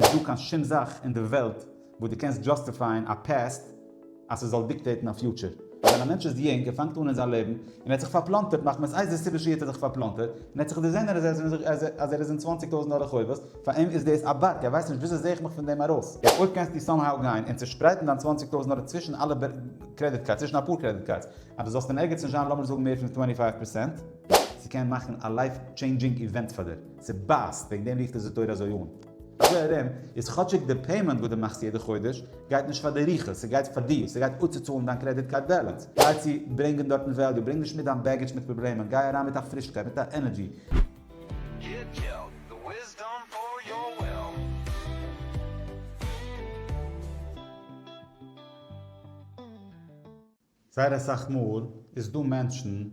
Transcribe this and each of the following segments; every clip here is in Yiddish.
נישט דא קיין שום זאך אין די וועלט וואס דו קענסט דזשאסטיפייען א פעסט אז ס'זאל דיקטעיטן א פיוטשער. ווען א מענטש איז יונג און פאנגט אן אין זיין לעבן און ער האט זיך פארפלאנטערט מחמת איזה סיבה שיהיה האט ער זיך פארפלאנטערט און ער האט זיך דערזען אז ער איז אין צוואנציג טויזנט דאלער חובות, פאר אים איז דאס א בארג, ער ווייסט נישט וויאזוי זע איך מיך פון דעם ארויס. יעצט אויב קענסטו סאמהאו גיין און צושפרייטן דיין צוואנציג טויזנט דאלער צווישן אלע קרעדיט קארדס, צווישן אפאר קרעדיט קארדס, אז דו זאלסט אין ערגעץ נישט זיין לאמיר זאגן מער פון טווענטי פייוו פערסענט, ס'קען מאכן א לייף טשעינדזשינג איווענט פאר דיר, ס'בייסט, וועגן דעם רופט עס די תורה אזוי אן. אזוי ארום איז כאטשיג די פעימענט וואס דו מאכסט יעדע חודש גייט נישט פאר די רוחות, ס'גייט פאר דיר, ס'גייט אפצוצאלן דיין קרעדיט קארד בעלענס, גיי צו ברענגען דארטן וועליו, ברענג נישט מיט דיין בעגעדזש מיט פראבלעמען, גיי אריין מיט א פרישקייט, מיט א ענערדזשי. זייער אסאך מאל איז דא מענטשן.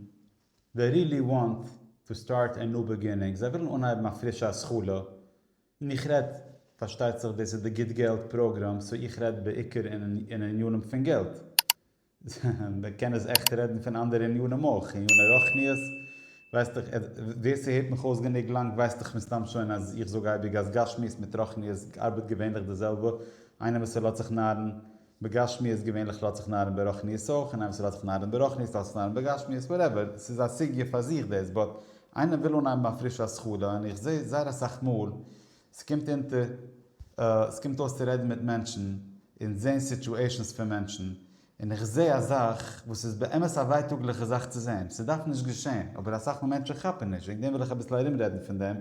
זיי רילי וואנט טו סטארט ען ניו בעגינינג, זיי ווילן אנהייבן א פרישע התחלה, און איך רעד, פארשטייט זיך דאס איז די גוט געלט פראגראם סאו איך רעד בעיקר אין ענינים פון געלט, מען קען עס עכט רעדן פון אנדערע ענינים אויך, עניני רוחניות, ווייסט דאך ווער ס'הערט מיך אויס גענוג לאנג ווייסט דאך מסתם שוין אז איך זאג אייביג אז גשמיות מיט רוחניות ארבעט געווענליך די זעלבע, איינער וואס ער לאזט זיך נארן. בגשמיות געווענליך לאזט זיך נארן ברחניות אויך, און איינער וואס לאזט זיך נארן ברחניות לאזט זיך נארן בגשמיות, וואטעווער, ס'איז א סוגיא פאר זיך דאס, באט איינער וויל אנהייבן א פרישע השכלה, און איך זעה זייער אסאך מאל ס'קומט אונטער ס'קומט אויס צו רעדן מיט מענטשן און זעהן סיטואשענס פון מענטשן, און איך זעה א זאך וואס איז באמת א ווייטאגליכע זאך צו זעהן, ס'דארף נישט געשעהן, אבער אסאך מאל מענטשן כאפן נישט, וועגן דעם וויל איך אביסל ארומרעדן פון דעם,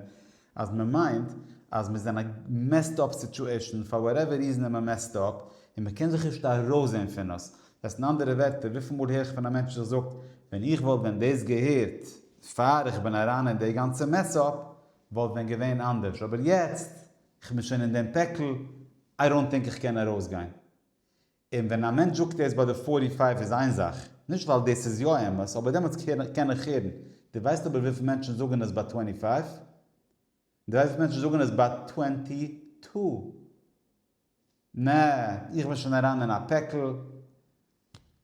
אז מען מיינט אז מען איז אין א מעסד אפ סיטועשאן פאר וואטעווער ריזען איז מען מעסד אפ און מען קען זיך נישט ארויסזעהן פון עס. דאס אין אנדערע ווערטער וויפיל מאל הער איך פון א מענטש זיך זאגט ווען איך וואלט ווען דאס געהערט פאר איך בין אריין אין די גאנצע מעס אפ וואלט ווען געווען אנדערש אבער יעצט איך בין שוין אין דעם פעקל איי דאנט טינק איך קען ארויסגיין און ווען א מענטש זאגט ער איז ביי די פארטי פייוו איז איין זאך, נישט ווייל דאס איז יא אמת, אבער דעמאלטס קען איך הערן, דו ווייסט אבער וויפיל מענטשן זאגן עס ביי טווענטי פייוו? דו ווייסט וויפיל מענטשן זאגן עס ביי טווענטי טו? נע, איך בין שוין אריין אין א פעקל.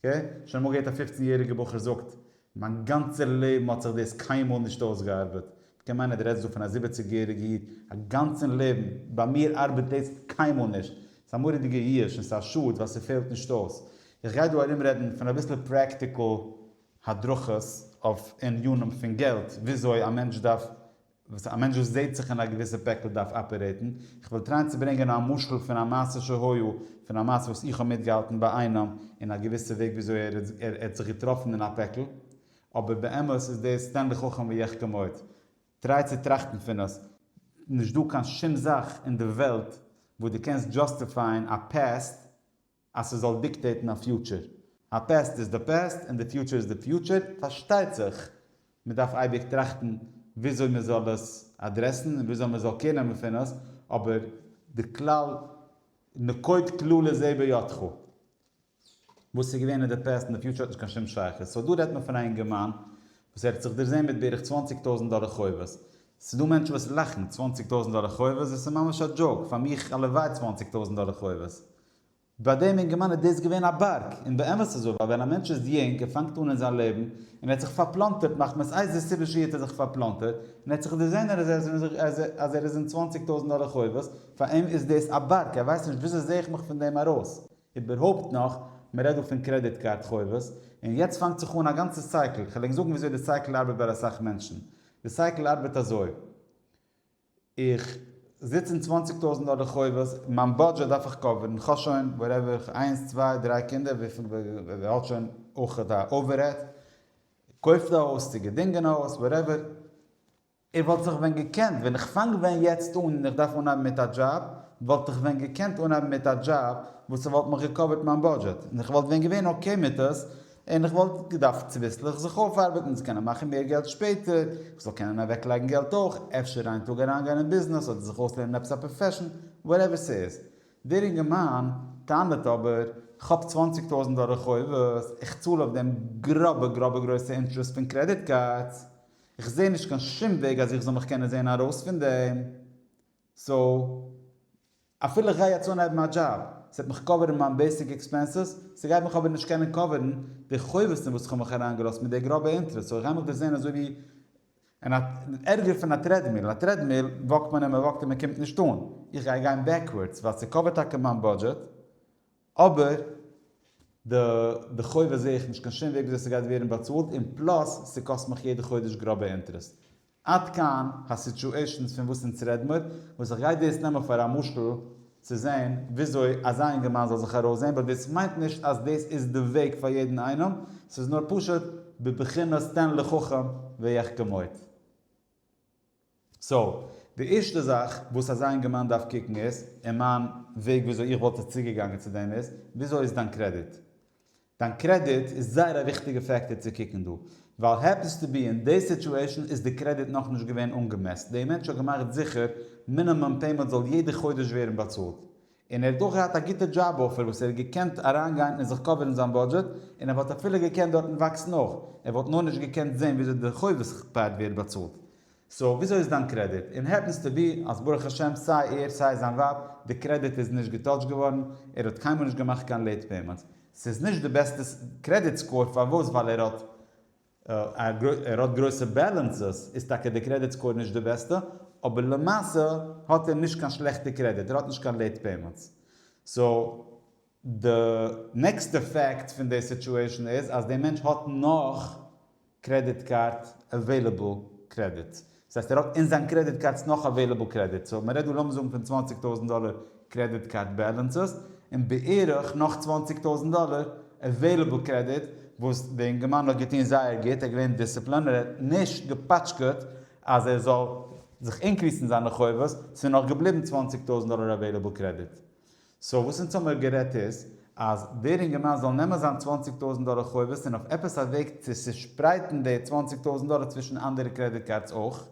אקעי? שוין אמאל געהערט א פופצן יעריגע בחור זאגט, מיין גאנצער לעבן האט זיך דאס קיינמאל נישט אויסגעארבעט. כמיין אז די רעדסט דא פון א זיבעציג יעריגע איד. א גאנצן לעבן. ביי מיר ארבעט דאס קיינמאל נישט. ס'איז א מורא'דיגע יאוש און ס'איז א שאד ווייל ס'פעלט נישט אויס. איך גיי דא ארום רעדן פון אביסל פרעקטיקל הדרכות אויף ענינים פון געלט, וויאזוי א מענטש דארף וואס א מענטש וואס זעהט זיך אין א געוויסע פעקל דארף אפערעיטן, איך וועל טרייען צו ברענגען א משל פון א מעשה שהיה, פון א מעשה וואס איך האב מיטגעהאלטן ביי איינעם, אין א געוויסע וועג וויאזוי ער ער האט זיך געטראפן אין א פעקל, אבער באמת איז דאס תן לחכם ויחכם עוד, טריי צו טראכטן פון עס, נישט דא קיין שום זאך אין די וועלט וואס דו קענסט דזשאסטיפייען א פעסט, אז ס'זאל דיקטעיטן א פיוטשער. א פעסט איז די פעסט און די פיוטשער איז די פיוטשער. פארשטייט זיך מ'דארף אייביג טראכטן וויאזוי מ'זאל עס אדרעסן און וויאזוי מ'זאל קעיר נעמען פון עס, אבער די כלל נקוט כלל איז עי' בידך. וואס ס'איז געווען אין די פעסט און די פיוטשער האט נישט קיין שום שייכות. סאו דא רעדט מען פון א אינגערמאן וואס ער האט זיך דערזעהן מיט בערך צוואַנציק טויזענט דאלער חובות. ס'איז דא מענטשן וואס לאכן, צוואַנציק טויזענט דאלער חובות דאס איז ממש א דזשאוק, פאר מיך הלוואי צוואַנציק טויזענט דאלער חובות. ביי דעם אינגערמאן איז דאס געווען א בארג, און באמת איז אזוי, ווייל ווען א מענטש איז יונג און פאנגט אן אין זיין לעבן, און ער האט זיך פארפלאנטערט מחמת איזה סיבה שיהיה האט ער זיך פארפלאנטערט, און ער האט זיך דערזען אז ער איז אין זיך אז ער אז ער איז אין צוואנציג טויזנט דאלער חובות, פאר אים איז דאס א בארג, ער ווייסט נישט וויאזוי זעה איך מיך פון דעם ארויס. איבערהויפט נאך, מען רעדט דא פון קרעדיט קארד חובות, און יעצט פאנגט זיך אן א גאנצע סייקל, כ'וועל ענק זאגן וויאזוי די סייקל ארבעט ביי אסאך מענטשן. די סייקל ארבעט אזוי. איך זיץ אין צוואנציג טויזענט דאלער חובות, מיין בודזשעט דארף איך קאווערן, איך האב שוין וואטעווער איך איינס צוויי דריי קינדער וויפיל ווער האט שוין אויך א אווערהעד, קויפט א הויז צו געדינגען א הויז וואטעווער, איך וואלט זיך ווען געקענט ווען איך פאנג ווען יעצט אן און איך דארף אנהייבן מיט א דזשאב וואלט איך ווען געקענט אנהייבן מיט א דזשאב וואס ס'וואלט מיך געקאווערט מיין בודזשעט און איך וואלט ווען געווען אקעי מיט עס און איך וואלט געדארפט צוביסלעך זיך אויפארבעטן צו קענען מאכן מער געלט שפעטער, איך זאל קענען אוועקלייגן געלט אויך, אפשר איין טאג אריינגיין אין ביזנעס אדער זיך אויסלערנען עפעס א פראפעשן, וואטעווער ס'איז. דער אינגערמאן טענה'ט אבער, כ'האב צוואנציג טויזנט דאלער חובות, איך צאל אויף דעם גראבע גראבע גרויסע אינטערעסט פון קרעדיט קארדס, איך זע נישט קיין שום וועג אז איך זאל מיך קענען זען ארויס פון דעם, סאו. אפילו איך גיי יעצט אנהייבן א דזשאב, ס'וועט מיך קאווערן מיין בעיסיק עקספענסעס, ס'גייט מיך אבער נישט קענען קאווערן די חובות אין וואס כ'האב מיך אריין געלאזט מיט די גראבע אינטרעסט, סאו כ'גיי מיך דא זעהן אזוי ווי אין א, ערגער פון א טרעדמיל, א טרעדמיל וואקט מען און מ'וואקט און מ'קומט נישט אן, איך גיי גיין בעקווארדס ווייל ס'קאווערט טאקע מיין בודזשעט, אבער די די חובות זעה איך נישט קיין שום וועג וויאזוי ס'גייט ווערן באצאלט און פלאס ס'קאסט מיך יעדע חודש גראבע אינטערעסט. עד כאן הסיטשועישאנס פון וואס אונז רעד מיר, וואס איך גיי דאס נעמען פאר א משל צו זעהן וויאזוי אזא אינגערמאן זאל זיך ארויסזעהן באט דאס מיינט נישט אז דאס איז די וועג פאר יעדן איינעם, ס'איז נאר פשוט בבחינת תן לחכם ויחכם עוד. סאו, די ערשטע זאך וואס אזא אינגערמאן דארף קוקן איז, און מיין וועג וויאזוי איך וואלט עס צוגעגאנגען צו דעם איז, וויאזוי איז דיין קרעדיט? דיין קרעדיט איז זייער א וויכטיגע פעקטער צו קוקן דא, ווייל העפענס טו בי אין די סיטועשן איז די קרעדיט נאכנישט געווען אנגעמעסט, די מענטש האט געמאכט זיכער מינימום פעימענט זאל יעדע חודש ווערן באצאלט, און ער האט אויך געהאט א גוטע דזשאב אפער וואס ער האט געקענט אריינגיין און זיך קאווערן זיין בודזשעט, און ער וואלט אפילו געקענט דארטן וואקסן אויך, ער וואלט נאר נישט געקענט זען וויאזוי די חובות כפד ווערט באצאלט. סאו וויאזוי איז דיין קרעדיט? און העפענס טו בי אז ברוך השם סיי ער סיי זיין ווייב די קרעדיט איז נישט געטאטשט געווארן, ער האט קיינמאל נישט געמאכט קיין לעיט פעימענטס, ס'איז נישט די בעסטע קרעדיט סקאור פארוואס ווייל ער האט. ער האט גרויסע בעלענסעס, איז טאקע די קרעדיט סקאור נישט די בעסטע, אבער למעשה האט ער נישט קיין שלעכטע קרעדיט, ער האט נישט קיין לעיט פעימענטס. סאו די נעקסטע פעקט פון די סיטועשן איז אז די מענטש האט נאך קרעדיט קארד עוועילעבל קרעדיט, דאס הייסט ער האט אין זיין קרעדיט קארדס נאך אוועילעבל קרעדיט סאו מען רעדט דא לאמיר זאגן פון צוואַנציק טויזנט דאלער קרעדיט קארד בעלענסעס און בערך נאך צוואַנציק טויזנט דאלער אוועילעבל קרעדיט וואס די אינגערמאן האט געטון זייער גוט ער איז געווען דיסציפלין ער האט נישט געפאטשקעט אז ער זאל זיך אינקריסן זיינע חובות ס'איז נאך געבליבן צוואַנציק טויזנט דאלער אוועילעבל קרעדיט סאו וואס אונז האמיר גערעדט איז אז דער אינגערמאן זאל נעמען זיין צוואַנציק טויזענט דאלער חובות און אויף עפעס א וועג צו צושפרייטן די צוואַנציק טויזענט דאלער צווישן אנדערע קרעדיט קארדס אויך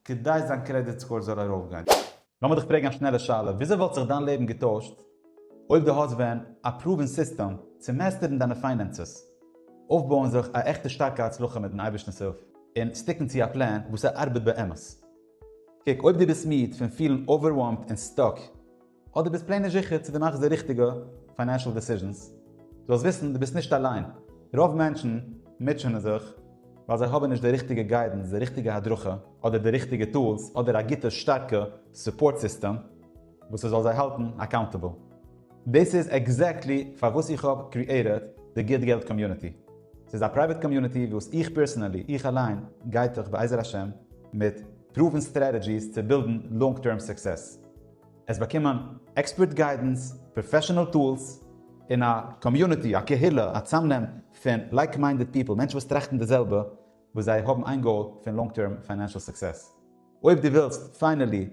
כדי זיין קרעדיט סקאור זאל ארויפגיין. לאמיר דיך פרעגן א שנעלע שאלה, וויאזוי וואלט זיך דיין לעבן געטוישט אויב דו האסט ווען א פראווען סיסטעם צו מעסטערן דיינע פיינענסעס, אויפבויען זיך א עכטע שטארקע הצלחה מיטן אייבערשטנ'ס הילף, און סטיקן צו א פלען וואס ס'ארבעט באמת? קוק, אויב דו ביסט מיד פון פילן אווערוועלמד און סטאק אדער דו ביסט פלעין נישט זיכער צו דו מאכסט די ריכטיגע פיינענשעל דעסיזשענס, זאלסט וויסן דו ביסט נישט אליין, רוב מענטשן מוטשענען זיך ווייל זיי האבן נישט די ריכטיגע גיידענס, די ריכטיגע הדרכה, אדער די ריכטיגע טולס, אדער א גוטע שטארקע סופארט סיסטעם וואס ס'זאל זיי האלטן אקאונטעבל. דאס איז עקזעקטלי פארוואס איך האב קריעיטעד די גוט געלט קאמיוניטי. ס'איז א פרייוועט קאמיוניטי וואס איך פערסענעלי, איך אליין, גיידט דיך בעזר השם מיט פרואוון סטרעטעדזשיס צו בילדן לאנג טערם סוקסעס. עס באקומען עקספערט גיידענס, פראפעשענעל טולס, און א קאמיוניטי, א קהילה, א צאמנעם פון לייק מיינדעד פיפל, מענטשן וואס טראכטן די זעלבע, וואס זיי האבן איין גאול פון לאנג טערם פיינענשעל סוקסעס. אויב דו ווילסט פיינעלי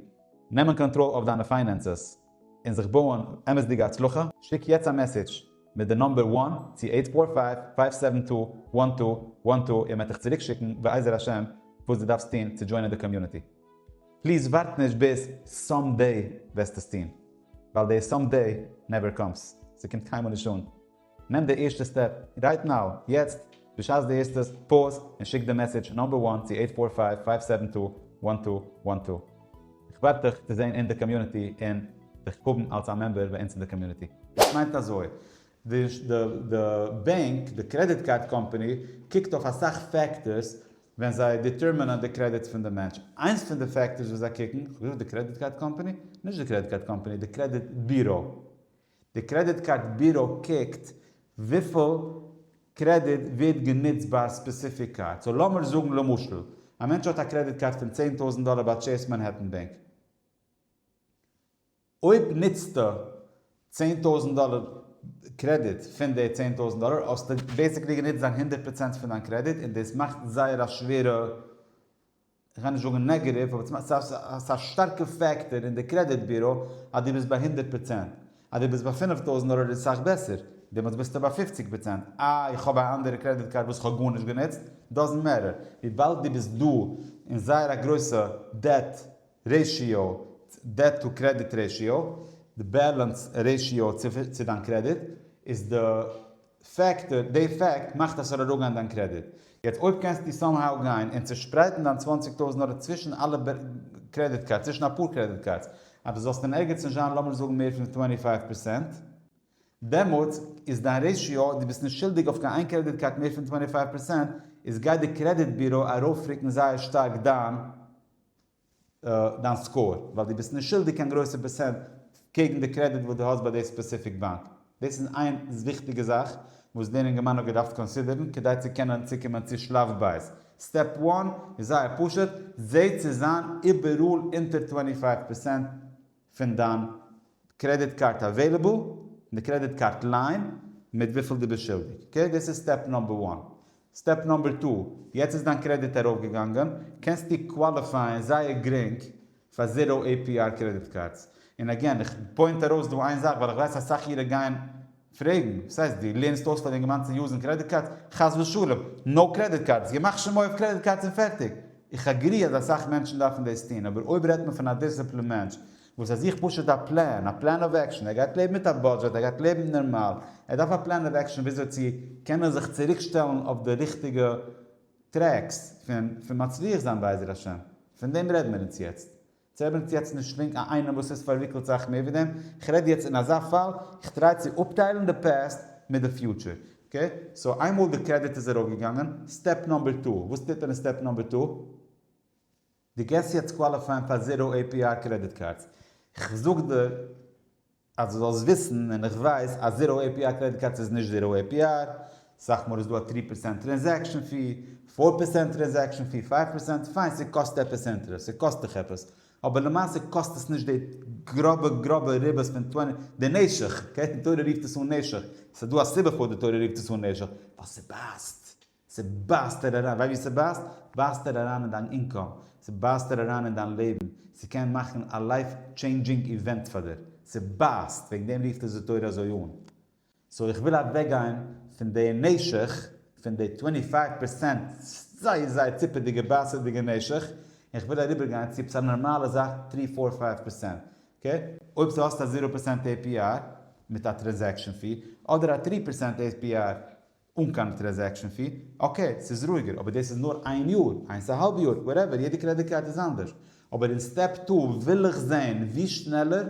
נעמען קאנטראל אויף דיינע פיינענסעס און זיך בויען אמת'דיגע הצלחה, שיק יעצט א מעסעדזש מיט די נומבער וואן צו אייט פאר פייוו פייוו סעווען טו וואן טו וואן טו וואן טו און מען וועט דיך צוריקשיקן בעזר השם וואס דו דארפסט טון צו דזשוינען די קאמיוניטי. פליז ווארט נישט ביז סאם דעי וועסט עס טון, ווייל די סאם דעי נעווער קאמס, ס'קומט קיינמאל נישט אן. נעם די ערשטע סטעפ רייט נאו, יעצט, בשעת דו הערסט עס, פאוז און שיק די מעסעדזש נאמבער וואן צו עיט פאר פייוו פייוו סעווען טו וואן טו וואן טו. איך ווארט דיך צו זען אין די קאמיוניטי און דיך האבן אלס א מעמבער ביי אונז אין די קאמיוניטי. עס מיינט אזוי, די בענק, די קרעדיט קארד קאמפאני, קוקט אויף אסאך פעקטארס ווען זיי דיטערמינען די קרעדיט פון די מענטש. איינס פון די פעקטארס וואס זיי קוקן, כ'האב געזאגט די קרעדיט קארד קאמפאני? נישט די קרעדיט קארד קאמפאני, די קרעדיט בירא. די קרעדיט קארד בירא קוקט וויפיל קרעדיט ווערט גענוצט ביי א ספעסיפיק קארד. סאו לאמיר זאגן למשל, א מענטש האט א קרעדיט קארד פון צען טויזנט דאלער ביי טשעיס מאנהעטן בענק. אויב נוצטו צען טויזנט דאלער קרעדיט פון די צען טויזנט דאלער האסטו בעסיקלי גענוצט דיין הונדערט פראצענט פון דיין קרעדיט און דאס מאכט זייער א שווערע, כ'גיי נישט זאגן נעגעטיוו, אבער ס'מאכט ס'איז א שטארקע פעקטאר אין די קרעדיט ביורא אז דו ביסט ביי הונדערט פראצענט. אז דו ביסט ביי פֿינף טויזנט דאלער איז סאך בעסער, דעמאלטס ביסטו ביי פופציג פראצענט, אה איך האב א אנדערע קרעדיט קארד וואס כ'האב גארנישט גענוצט, דאזענט מעטער, וויבאלד דו ביסט דא אין זייער א גרויסע דעט רעשיאו, דעט טו קרעדיט רעשיאו, די בעלענס רעשיאו צו דיין קרעדיט, איז די פעקטאר, די פעקט מאכט אז ס'זאל אראפגיין דיין קרעדיט. יעצט אויב קענסטו סאם האו גיין און צושפרייטן דיין צוואַנציק טויזנט דאלער צווישן אלע קרעדיט קארדס, צווישן אפאר קרעדיט קארדס, אז דו זאלסט אין ערגעץ נישט זיין לאמיר זאגן מער פון טווענטי פייוו פערסענט, דעמאלטס איז דיין רעשיאו, דו ביסט נישט שולדיג אויף קיין איין קרעדיט קארד מער פון טווענטי פייוו פערסענט, איז גייט די קרעדיט ביורא ארויפרוקן זייער שטארק דיין דיין סקאור, ווייל דו ביסט נישט שולדיג קיין גרויסע פערסענט קעגן די קרעדיט וואס דו האסט ביי די ספעסיפיק באנק. דאס איז איין וויכטיגע זאך וואס דער אינגערמאן האט געדארפט קאנסידערן כדי צו קענען צוקומען צו שלב ב'. סטעפ וואן איז זייער פשוט, זע צו זיין איבעראל אונטער צוואַנציק פינף פערסענט פון דיין קרעדיט קארד אוועילעבל און די קרעדיט קארד ליין מיט וויפיל דו ביסט שולדיג. אקעי? דאס איז סטעפ נאמבער וואן. סטעפ נאמבער טו, יעצט איז דיין קרעדיט ארויפגעגאנגען, קענסטו קוואליפייען זייער גרינג פאר זיראו עי פי אר קרעדיט קארדס. און אגעין, איך פוינט ארויס דא איין זאך ווייל איך ווייס אסאך אירע גייען. פרעגן, וואס הייסט דו לערנסט אויס פאר די אינגערמאן צו יוזן קרעדיט קארדס? חס ושלום! נאו קרעדיט קארדס! געמאכט שמו אויף קרעדיט קארדס און פערטיג! איך אגרי אז אסאך מענטשן דארפן דאס טון, אבער אויב רעדט מען פון א דיסציפלינד מענטש וואס ער זוכט פשוט א פלאן, א פלאן אוו עקשאן, ער גייט לעבן מיט א בודזשעט, ער גייט לעבן נארמאל, ער דארף א פלאן אוו עקשאן וויאזוי צו קענען זיך צוריק שטעלן אויף די ריכטיגע טרעקס פון פון מצליח זיין בעזר השם, פון דעם רעדן מיר אונז יעצט. צעברענגט יעצט נישט לינק א איינעם וואס איז פארוויקלט סאך מער ווי דעם, איך רעד יעצט אין אזא פאל, איך טריי צו אפטיילן די פעסט מיט די פיוטשער, אקעי? סאו איינמאל די קרעדיט איז ארויף געגאנגען, סטעפ נאמבער טו, וואס טוט מען אין סטעפ נאמבער טו? די גייסט יעצט קוואליפייען פאר זירא עי פי אר קרעדיט קארדס, איך זאג דיר אז דו זאלסט וויסן, און איך ווייס אז זיראו עי פי אר קרעדיט קארדס איז נישט זיראו עי פי אר, סאך מאל איז דא א טרי פערסענט טרענזעקשן פי, פאר פערסענט טרענזעקשן פי, פייוו פערסענט, פיין ס'קאסט עפעס אינטערעסט, ס'קאסט דיך עפעס, אבער למעשה קאסט עס נישט די גראבע גראבע ריבית פון טווענטי, די נעשך, אקעי, די תורה רופט עס אן נעשך, ס'דא א סיבה פארוואס די תורה רופט עס אן נעשך, ווייל ס'בייסט. ס'בייסט ער אריין, וויי ווי ס'בייסט, בייסט ער אריין אין דיין אינקאם, ס'בייסט ער אריין אין דיין לעבן, ס'קען מאכן א לייף טשעינדזשינג איווענט פאר דיר, ס'בייסט, וועגן דעם רופט עס די תורה אזוי אן. סאו איך וויל אוועקגיין פון די נשך, פון די טווענטי פייוו פערסענט זייער זייער ציפעדיגע בייסעדיגע נשך, און איך וויל אריבערגיין צו עפעס א נארמאלע זאך טרי פאר פייוו פערסענט, אקעי? אויב ס'האט האסט א זירא פערסענט APR מיט א טרענזעקשאן פי, אדער א טרי פערסענט APR אן קיין טרעזעקשן פי, אקעי ס'איז רואיגער אבער דאס איז נאר איין יאר, איינס א האלב יאר, וואטעווער, יעדע קרעדיט קארד איז אנדערש, אבער אין סטעפ טו וויל איך זעהן ווי שנעלער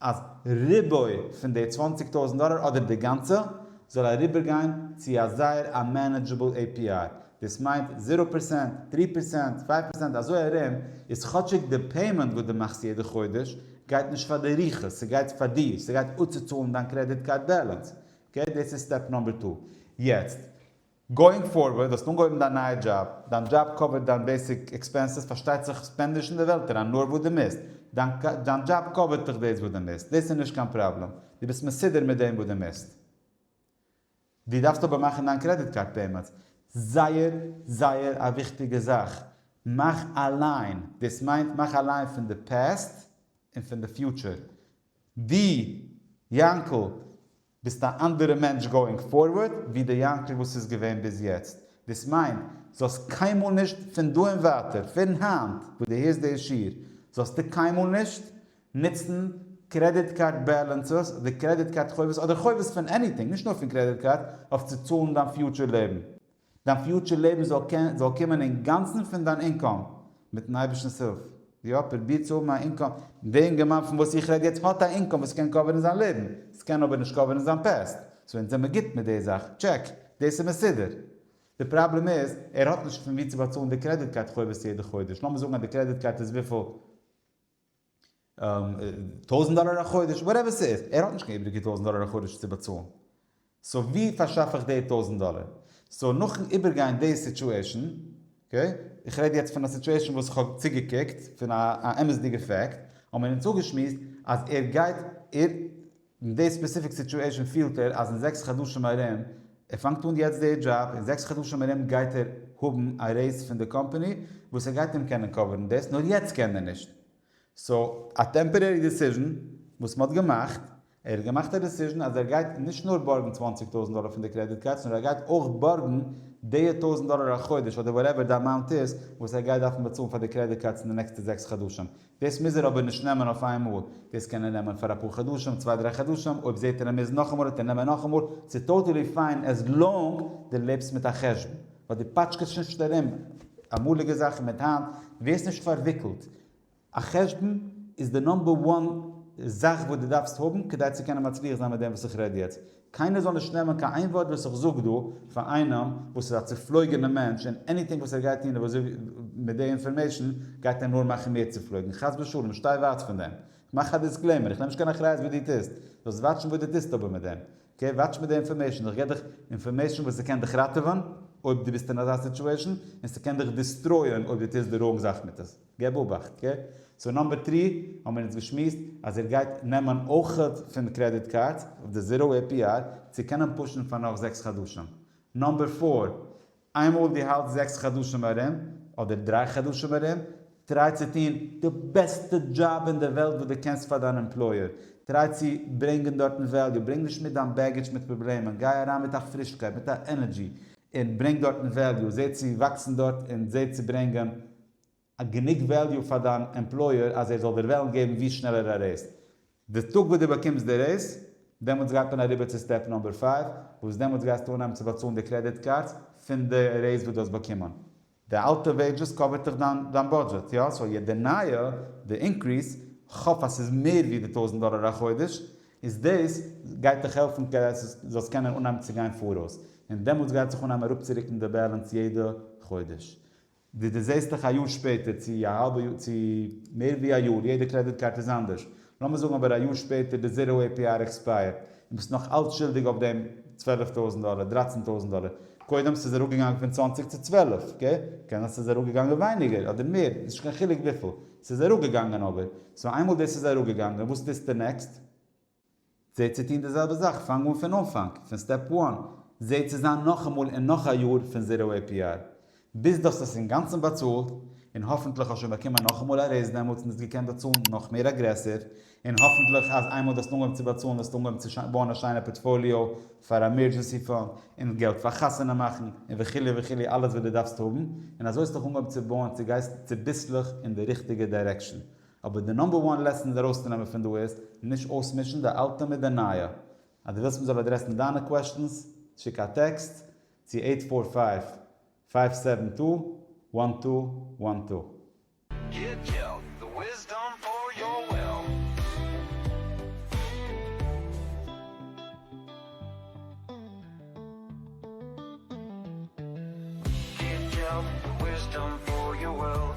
אז ריבוי פון די צוואַנציק טויזנט דאלער אדער די גאנצע זאל אריבער גיין צו א זייער א מענעדזשעבל עי פי איי, דאס מיינט זירא פערסענט, דרי פערסענט, צוויי פערסענט, אזוי ארום איז כאטשיג די פעימענט וואס די מאכסט יעדע חודש גייט נישט פאר די רוחות, ס'גייט פאר דיר, ס'גייט אפצוצאלן דיין קרעדיט קארד בעלענס, אקעי דאס איז סטעפ נאמבער טו. יעצט, גאואינג פארווערד, האסט אנגעהויבן דיין נייע דזשאב, דיין דזשאב קאווערט דיין בעיסיק עקספענסעס, פארשטייט זיך ספענד נישט אין די וועלט אריין נאר וואס דו מוזט, דיין דזשאב קאווערט דיך דאס וואס דו מוזט, דאס איז נישט קיין פראבלעם, דו ביסט מסודר מיט דעם וואס דו מוזט. דו דארפסט אבער מאכן דיין קרעדיט קארד פעימענטס, זייער זייער א וויכטיגע זאך, מאך א ליין, דאס מיינט מאך א ליין פון די פעסט און פון די פיוטשער, די יאנקל ביסט א אנדערע מענטש גאוינג פארווארד ווי די יאנקל וואס איז געווען ביז יעצט, דאס מיינט זאלסט קיינמאל נישט פון דא און ווייטער פון היינט וואס די הערסט די שיעור זאלסטו קיינמאל נישט נוצן קרעדיט קארד בעלענסעס אדער קרעדיט קארד חובות אדער חובות פון עניטינג נישט נאר פון קרעדיט קארד אויף צו צאלן דיין פיוטשער לעבן דיין פיוטשער לעבן זאל קען זאל קומען אינגאנצן פון דיין אינקאם, מיטן אייבערשטנ'ס הילף. יא, פרוביר צו האבן א אינקאם. דער אינגערמאן פון וואס איך רעד יעצט האט א אינקאם וואס קען קאווערן זיין לעבן, עס קען אבער נישט קאווערן זיין פעסט. סאו אונז זעמער גוט מיט די זאך, טשעק, דאס איז מסודר. די פראבלעם איז, ער האט נישט פון וואו צו באצאלן די קרעדיט קארד חובות יעדע חודש. לאמיר זאגן אז די קרעדיט קארד איז וויפיל? טויזענט דאלער א חודש, וואטעווער ס'איז, ער האט נישט קיין איבריגע טויזענט דאלער א חודש צו באצאלן, סאו ווי פארשאף איך די טויזענט דאלער? סאו נאכן איבערגיין די סיטועשן, אקעי, איך רעד יעצט פון א סיטועשן וואס איך האב צוגעקוקט, פון א אמת'דיגע פעקט, האבן מיר אונז אפגעשמועסט אז ער גייט, ער. אין די ספעסיפיק סיטועשען פילט ער אז אין זעקס חדשים ארום, ער פאנגט אן יעצט די דזשאב, אין זעקס חדשים ארום גייט ער האבן א רעיז פון די קאמפעני וואס ער גייט אים קענען קאווערן דאס, נאר יעצט קען ער נישט, סאו א טעמפערערי דעסיזשן וואס מען האט געמאכט, ער האט געמאכט א דעסיזשן אז ער גייט נישט נאר בארגן צוואַנציק טויזנט דאלער פון די קרעדיט קארדס נאר ער גייט אויך בארגן די טויזנט דאלער א חודש אדער וואטעווער די אמאונט איז וואס ער גייט דארפן באצאלן פאר די קרעדיט קארדס אין די נעקסטע זעקס חדשים, דאס מוז ער אבער נישט נעמען אויף איין מאל, דאס קען ער נעמען פאר אפאר חדשים, צוויי דריי חדשים, אויב זעט ער ער מוז נאכאמאל וועט ער נעמען נאכאמאל, ס'איז טאטעלי פיין עז לאנג די לעבסט מיט א חשבון, ווייל די פאטשקעסט נישט ארום אמאליגע זאכן מיט היינט, די ווערסט נישט פארוויקלט, א חשבון איז די נאמבער וואן זאך וואס די דארפסט האבן כדי צו קענען מצליח זיין מיט דעם וואס איך רעד יעצט, קיינער זאל נישט נעמען קיין איין ווארט וואס איך זאג דא פאר איינעם וואס איז א צופלויגענע מענטש און עניטינג וואס ער גייט טון וואס זאג מיט די אינפארמעישן גייט ער נאר מאכן מער צופלויגן חס ושלום שטיי ווייט פון דעם איך מאך א דיסקלעימער איך נעם נישט קיין אחריות וואס דו טוסט זאלסט וואטשן וואס דו טוסט אבער מיט דעם אקעי וואטש מיט די אינפארמעישן איך גיב דיך אינפארמעישן וואס ס'קען דיך ראטעווען אויב דו ביסט אין אזא סיטואישן און ס'קען דיך דיסטרויען אויב דו טוסט די ראנג זאך מיט עס. געב אבאכט גע צו נאמבער טרי, האבן מיר אונז געשמועסט אז ער גייט נעמען אויכעט פון קרעדיט קארדס אויף די זיראו עי פי אר צו קענען פושן פאר נאך זעקס חדשים. נאמבער פאר, איינמאל דו האלטסט זעקס חדשים ארום, אדער דריי חדשים ארום, טריי צו טון די בעסטע דזשאב אין די וועלט וואס דו קענסט פאר דיין עמפלויער, טריי צו ברענגען דארטן וועליו, ברענג נישט מיט דיין בעגעדזש מיט פראבלעמען, גיי אריין מיט א פרישקייט, מיט א ענערדזשי, און ברענג דארטן וועליו, זע צו וואקסן דארט און זע צו ברענגען א גענוג וועליו פאר דיין עמפלויער אז ער זאל דיר וועלן געבן ווי שנעלער א רעיז. די טאג וואס דו באקומסט די רעיז, דעמאלטס גייט מען אריבער צו סטעפ נומבער פייוו, וואס דעמאלטס גייסטו אנהייבן צו באצאלן די קרעדיט קארדס פון די רעיז וואס דו האסט באקומען. די אלטע וועידזשעס קאווערט דיך דיין דיין בודזשעט, יא? סאו יעצט די נייע, די אינקריס, כ'האף אז ס'איז מער ווי די טויזנט דאלער א חודש, איז דאס גייט דיך העלפן כדי אז דו זאלסט קענען אנהייבן צו גיין פאראויס, און דעמאלטס גייט זיך אנהייבן אראפצורוקן די בעלענס יעדע חודש. ווי דו זעסט דיך א יאר שפעטער צו א האלבע יאר צו מער ווי א יאר, יעדע קרעדיט קארט איז אנדערש, לאמיר זאגן אבער א יאר שפעטער די זירא עי פי אר עקספייערט און ביסט נאך אלץ שולדיג אויף דעם צוועלף טויזנט דאלער, דרייצן טויזנט דאלער, קודם ס'איז אראפגעגאנגען פון צוואַנציק צו צוועלף, אקעי? קען זיין ס'איז אראפגעגאנגען ווייניגער אדער מער, איז נישט קיין חילוק וויפיל, ס'איז אראפגעגאנגען אבער, סאו איינמאל דאס איז אראפגעגאנגען וואס טוסטו נעקסט? זע צו טון די זעלבע זאך, פאנג אן פון אנפאנג, פון סטעפ וואן, זע צו זיין נאכאמאל און נאך א יאר פון זיראו עי פי אר, ביז דו האסט עס אינגאנצן באצאלט, און האפנטליך האסט שוין באקומען נאכאמאל א רעיז דעמאלטס און האסט געקענט באצאלן נאך מער אגרעסיוו, און האפנטליך אז איינמאל דו האסט אנגעהויבן צו באצאלן וועסטו אנגעהויבן צו בויען א שיינע פארטפאליאו פאר עמערדזשענסי פאנד, און געלט פאר חתונה מאכן, און וכו' וכו' אלעס וואס דו דארפסט האבן, און אזוי האסטוך אנגעהויבן צו בויען, צו גייסט צוביסלעך אין די ריכטיגע דיירעקשאן, אבער די נאמבער וואן לעסן איז ארויסצונעמען פון דא איז, נישט אויסמישן די אלטע מיט די נייע. אז דו ווילסט מ'זאל אדרעסן דיינע קוועשטענס, שיק א טעקסט צו עיט פאר פייוו, פייוו סעווען טו, וואן טו, וואן טו. גיט געלט, די וויזדאם פאר יאר וועלט. גיט געלט, די וויזדאם פאר יאר וועלט.